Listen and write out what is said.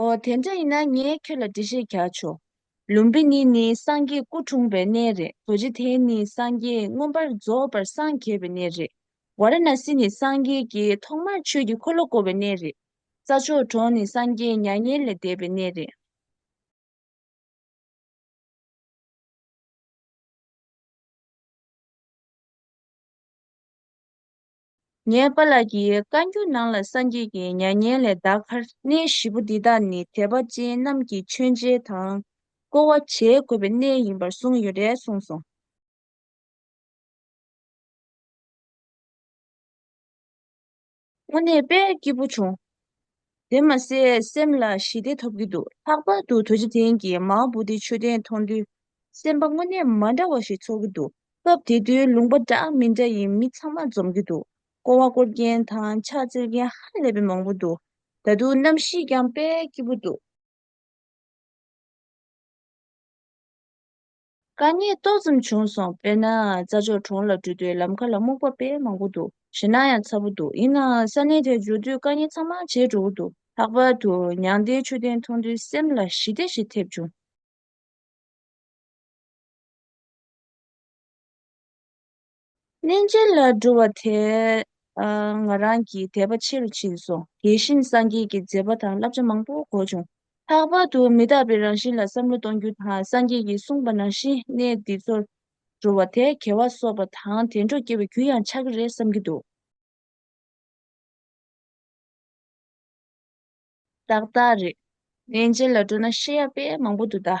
ཨོ་དེ་འདྲ་ཡིན་ན་ངས་ཁྱོད་ལ་འདྲི་བཤད་རྒྱག་ཆོག། ལུམ་བི་ནི་ནི་སངས་རྒྱས་སྐུ་འཁྲུངས་པའི་གནས་རེད་རྡོ་རྗེ་དེ་ནི་སངས་རྒྱས་མངོན་པར་རྫོགས་པར་སངས་རྒྱས་པའི་གནས་རེད། བ་ར་ན་སི་ནི་སངས་རྒྱས་ཀྱི་ཐོག་མར་ཆོས་ཀྱི་འཁོར་ལོ་བསྐོར་བའི་གནས་རེད། ས་ཕྱོགས་གྲོང་ནི་སངས་རྒྱས་མྱ་ངན་ལས་འདས་པའི་གནས་རེད། ངའི་པ་ལགས་ཀྱིས་བཀའ་འགྱུར་ནང་ལ་སངས་རྒྱས་ཀྱི་མྱ་ངན་ལས་འདའ་ཁར། གནས་བཞི་པོ་འདི་དག་ནི་དད་པ་ཅན་རྣམས་ཀྱིས་མཆོད་མཇལ་དང། བསྐོར་བ་བྱེད་དགོས་པའི་གནས་ཡིན་པར་གསུངས་ཡོད་རེད་གསུངས་སོང། དངོས་གནས་དཔེ་སྐྱིད་པོ་བྱུང། དེ་མ་ཟད་སེམས་ལ་ཞི་བདེ་ཐོབ་ཀྱི་འདུག་ལྷག་པར་དུ་དོ་ཅི་ཐེན་གྱིས་མའོ་བུ་ཏིའི་མཆོད་རྟེན་མཐོང་དུས་སེམས་པ་དངོས་གནས་མ་འདྲ་བ་ཞིག་ཚོར་གྱི་འདུག་སྐབས་དེ་དུས་ལུང་པ་འདྲ་མི་འདྲ་ཡི་མི་ཚང་མ་འཛོམས་ཀྱི་འདུག་ཀོ་བ་བསྐོར་མཁན་དང་ཕྱག་བཙིར་མཁན་ཧ་ལས་པའི་མང་པོ་འདུག་ད་དུང་གནམ་གཤིས་ཀྱང་དཔལ་སྐྱིད་པོ་འདུག། དཀའ་ངལ་ཏོག་ཙམ་བྱུང་སོང་དཔེར་ན་རྩྭ་ཕྱོགས་གྲོང་ལ་འགྲུལ་དུས་ལམ་ཁ་ལ་རྨོག་པ་དཔེ་མང་པོ་འདུག་ཞེད་སྣང་ཡང་ཚ་པོ་འདུག་ཡིན་ནའང་ས་གནས་དེར་འབྱོར་དུས་དཀའ་ངལ་ཚང་མ་བྱེད་འགྲོ་གི་འདུག་ལྷག་པར་དུ་མྱང་འདས་མཆོད་རྟེན་མཐོང་དུས་སེམས་ལ་ཞི་བདེ་ཞིག་ཐེབས་བྱུང། གནས་མཇལ་ལ་འགྲོ་བ་དེ་ང་རང་གི་དད་པ་ཆེ་རུ་ཕྱིན་སོང། དེ་བཞིན་སངས་རྒྱས་ཀྱི་མཛད་པ་དང་བསླབ་བྱ་མང་པོ་གོ་བྱུང། ལྷག་པར་དུ་མི་རྟག་པའི་རང་བཞིན་ལ་བསམ་བློ་གཏོང་རྒྱུ་དང་སངས་རྒྱས་ཀྱིས་གསུངས་པ་ནང་བཞིན་གནས་འདི་ཚོར་འགྲོ་བ་དེ་གལ་བ་གསོག་པ་དང་དེ་འཕྲོ་སྐྱེ་བའི་རྒྱུ་ཡང་ཆགས་ཀྱི་རེད་བསམ་གྱི་འདུག། ཏག་ཏག་རེད། གནས་མཇལ་ལ་འགྲོ་ན་ཤེས་ཡག་དཔེ་མང་པོ་འདུག་ད།